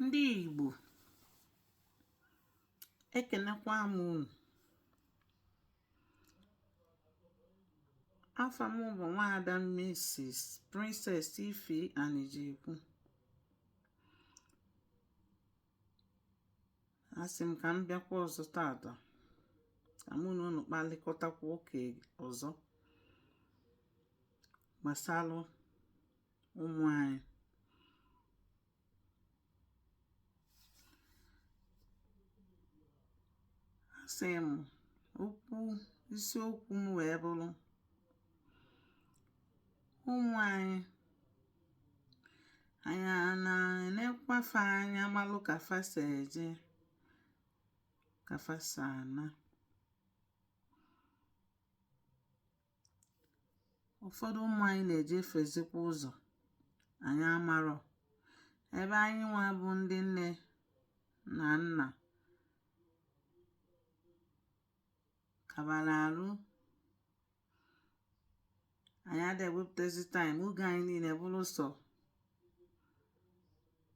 ndị Igbo ekenekwa m unu afa m bụ nwaada Mrs. Princess Ife Anijekwu asị m ka m bịakwa ọzọ tata ka mụ na unu kpalịkọtakwa ụka ọzọ gbasalụ ụmụ anyị asị m okwu isiokwu m wee bụrụ ụmụ anyị anyị ana-enekwa fa anya malụ ka fa si eje ka fa si ana ụfọdụ ụmụ anyị na-ejefiezikwa ụzọ anyị amarọ ebe anyị nwa bụ ndị nne na nna kabara arụ anyị ada ewepụtazi time oge anyị niile bụrụ sọ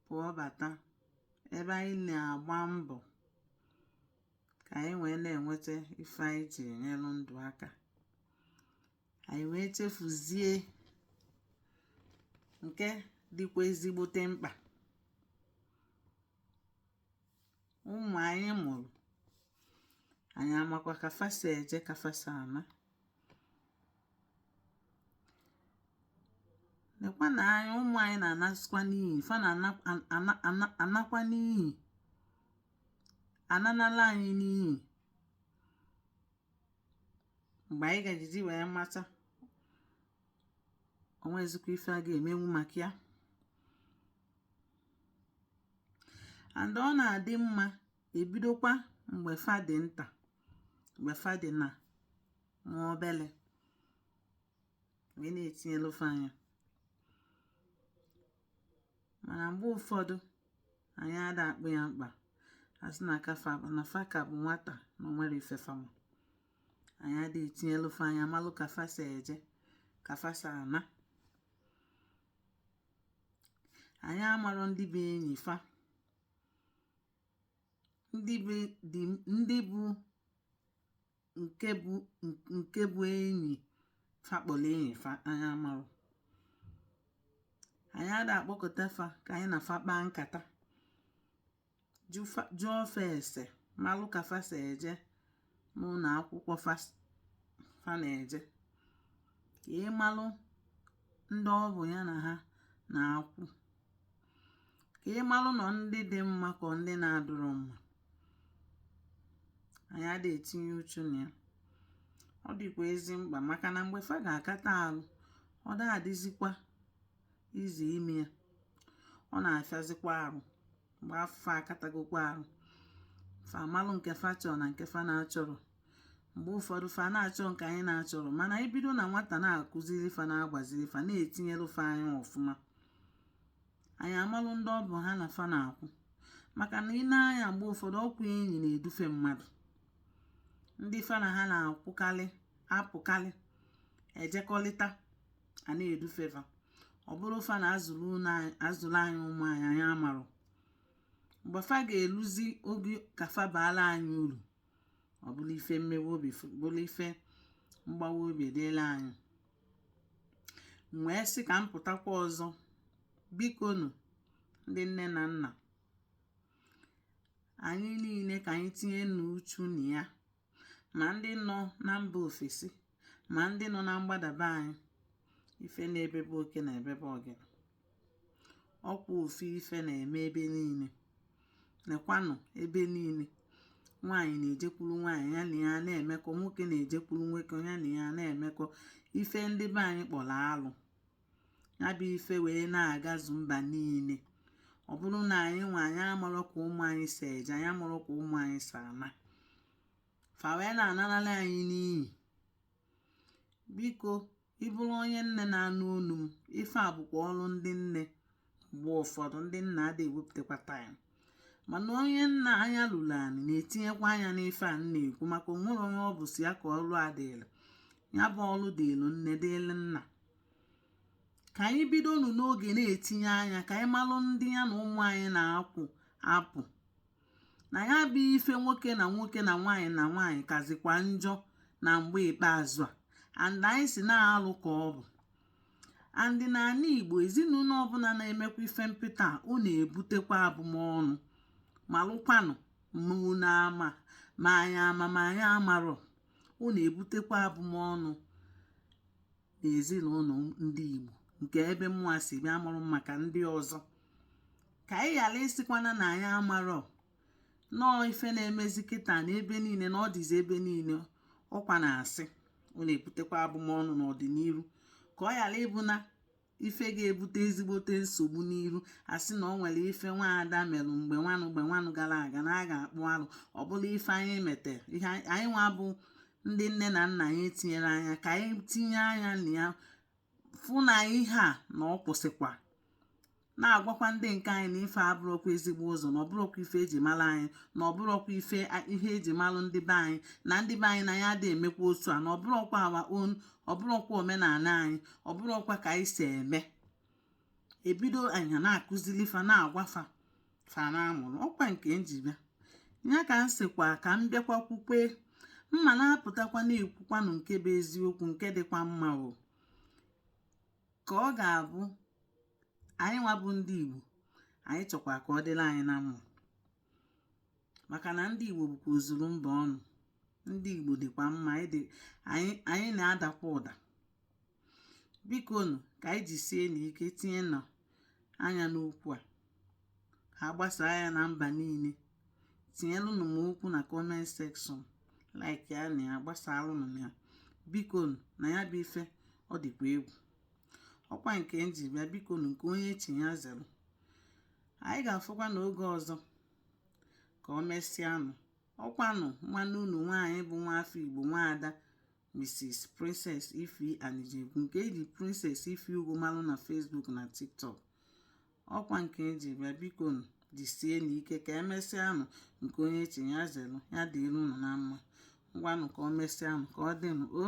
pụọ bata ebe anyị na-agba mbọ ka anyị wee na-enweta ife anyị ji enyelụ ndụ aka anyị wee chefuzie nke dịkwa ezigbote mkpa ụmụ anyị mụrụ anyị amakwa ka fa si eje ka fa si ana nekwa na anyị ụmụ anyị na-anasịkwa n'iyi fa na-anakwa n'iyi ananala anyị n'iyi mgbe anyị ga-ejizi wee mata onwezikwa ife a ga-emenwu maka ya and ọ na-adị mma ebidokwa mgbe fa dị nta mgbe fa dị na nwa obele wee na-etinyelu fa anya mana mgbe ụfọdụ anyị ada akpụ ya mkpa asị na ka na fa ka bụ nwata na onwere ife fa ma anyị ada etinyelu fa anya malụ ka fa si eje ka fa si ana anyị amarọ ndị bụ enyi fa ndị be dị ndị bụ nke bụ nke bụ enyi fa kpọlụ enyi fa anyị amarọ anyị ada akpọkọta fa ka anyị na fa kpaa nkata jụọ fa ese malụ ka fa si eje n'ụlọ akwụkwọ fa na-eje ka ị malụ ndị ọ bụ ya na ha na-akwụ ka ị malụ na ọ ndị dị mma ka ọ ndị na-adịrọ mma anyị adị etinye uchu na ya ọ dịkwa ezi mkpa maka na mgbe fa ga-akata arụ ọ da-adịzikwa easy ime ya ọ na-afịazikwa arụ mgbe fa akatagokwa arụ fa amalụ nke fa chọrọ na nke fa na-achọrọ mgbe ụfọdụ fa na-achọ nke anyị na-achọrọ mana anyị bido na nwata na-akụziri fa na-agbaziri fa na-etinyelu fa anya ọfụma anyị amalụ ndị ọ bụ ha na fa na-akwụ maka na i nee anya mgbe ụfọdụ ọkwa enyi na-edufe mmadụ ndị fa na ha na-akwụkalị apụkalị ejekọlịta a na-edufe fa ọ bụrụ fa na-azụlụ anyị ụmụ anyị anyị amarọ mgbe fa ga-eluzi oge ka fa baalụ anyị uru ọ bụrụ ife mmewe obi bụrụ ife mgbawa obi dịlụ anyị wee sị ka m pụtakwa ọzọ bikonụ ndị nne na nna anyị niile ka anyị tinye nụ uchu na ya ma ndị nọ na mba ofesi ma ndị nọ na mgbada be anyị ife na-ebe be oke na-ebe be ọgịnị ọkwa ofu ife na-eme ebe niine nekwanụ ebe niine nwaanyị na-ejekwuru nwaanyị ya na ya na-emekọ nwoke na-ejekwuru nwoke ya na ya na-emekọ ife ndị be anyị kpọlụ alụ ya bụ ife wee na-agazu mba niine ọ bụrụ na anyị nwa anyị amarọ ka ụmụ anyị si eje anyị amarọ ka ụmụ anyị si ana fa wee na-anarala anyị n'iyi biko ị bụrụ onye nne na-anụ onu m ife a bụkwa ọrụ ndị nne mgbe ụfọdụ ndị nna adị ewepụtakwa time mana onye nna anya lulu anị na-etinyekwa anya n'ife a na-ekwu maka o nwerọ onye ọ bụ sọ ya ka ọlụ a dịịlụ ya bụ ọlụ dịịlụ nne dịịlụ nna ka anyị bido nụ n'oge na-etinye anya ka anyị malụ ndị ya na ụmụ anyị na-akwụ apụ na ya bụ ife nwoke na nwoke na nwaanyị na nwaanyị kazikwa njọ na mgbe ikpeazụ a and anyị sị na alụ ka ọ bụ and n'anị Igbo ezinụnọ ọbụna na-emekwa ife mpịta ọ na-ebutekwa abụmọnụ malụkwanụ na ma ma anyị ama ma anyị amarọ ọ na-ebutekwa abụmọnụ n'ezinụnọ ndị Igbo nke ebe mụa si bịa amarọ m maka ndị ọzọ ka anyị ghara ịsịkwana na anyị amarọ nọọ ife na-emezi kịta na ebe niile na ọ dịzi ebe niile ọkwa na a sị ọ na-ebutekwa abụmọnụ n'ọdịniru ka ọ ghara ịbụ na ife ga-ebute ezigbote nsogbu n'iru a sị na ọ nwere ife nwaada merụ mgbe nwanụ gara aga na a ga-akpụ alụ ọ bụla ife anyị metere ihe anyị nwa bụ ndị nne na nna anyị tinyere anya ka anyị tinye anya na ya fụ na ihe a na ọ kwụsịkwa na-agwakwa ndị nke anyị na ife a abụrọkwa ezigbo ụzọ na ọ bụrọkwa ife eji mara anyị na ọ bụrọkwa ife eji malụ ndị be anyị na ndị be anyị na ya adịghị emekwa otu a na ọ bụrọkwa our own ọ bụrọkwa omenala anyị ọ bụrọkwa ka anyị si eme ebido anya na-akụzili fa na-agwafa fa na-amụrụ ọkwa nke m ji bịa ka m sịkwa ka m bịakwa kwukwe mma na-apụtakwa na-ekwukwanụ nke bụ eziokwu nke dịkwa mma o ka ọ ga-abụ anyị nwa bụ ndị Igbo anyị chọkwa ka ọ dịlị anyị na mma maka na ndị Igbo bụkwa ozuru mba ọnụ ndị Igbo dịkwa mma anyị na-adakwa ụda biko nụ ka anyị jisienụ ike tinyenụ anya n'okwu a a gbasaa ya na mba niile tinyelụnụ m okwu na comment section like ya na ya gbasalụnụ m ya biko nụ na ya bụ ife ọ dịkwa egwu ọkwa nke m ji bịa biko nụ nke onye chi ya zelu anyị ga-afụkwa na oge ọzọ ka ọ mesịanụ ọkwanụ nwanne unu nwaanyị bụ nwa afọ igbo nwaada mrs princess ify anijegwu nke eji princess ify ugwu malụ na facebook na tiktok ọkwa nke m ji bịa biko nụ jisienụ ike ka emesịanụ nke onye chi ya zelu ya dịrị unu na mma ngwanụ ka ọ mesịanụ ka ọ dịnụ o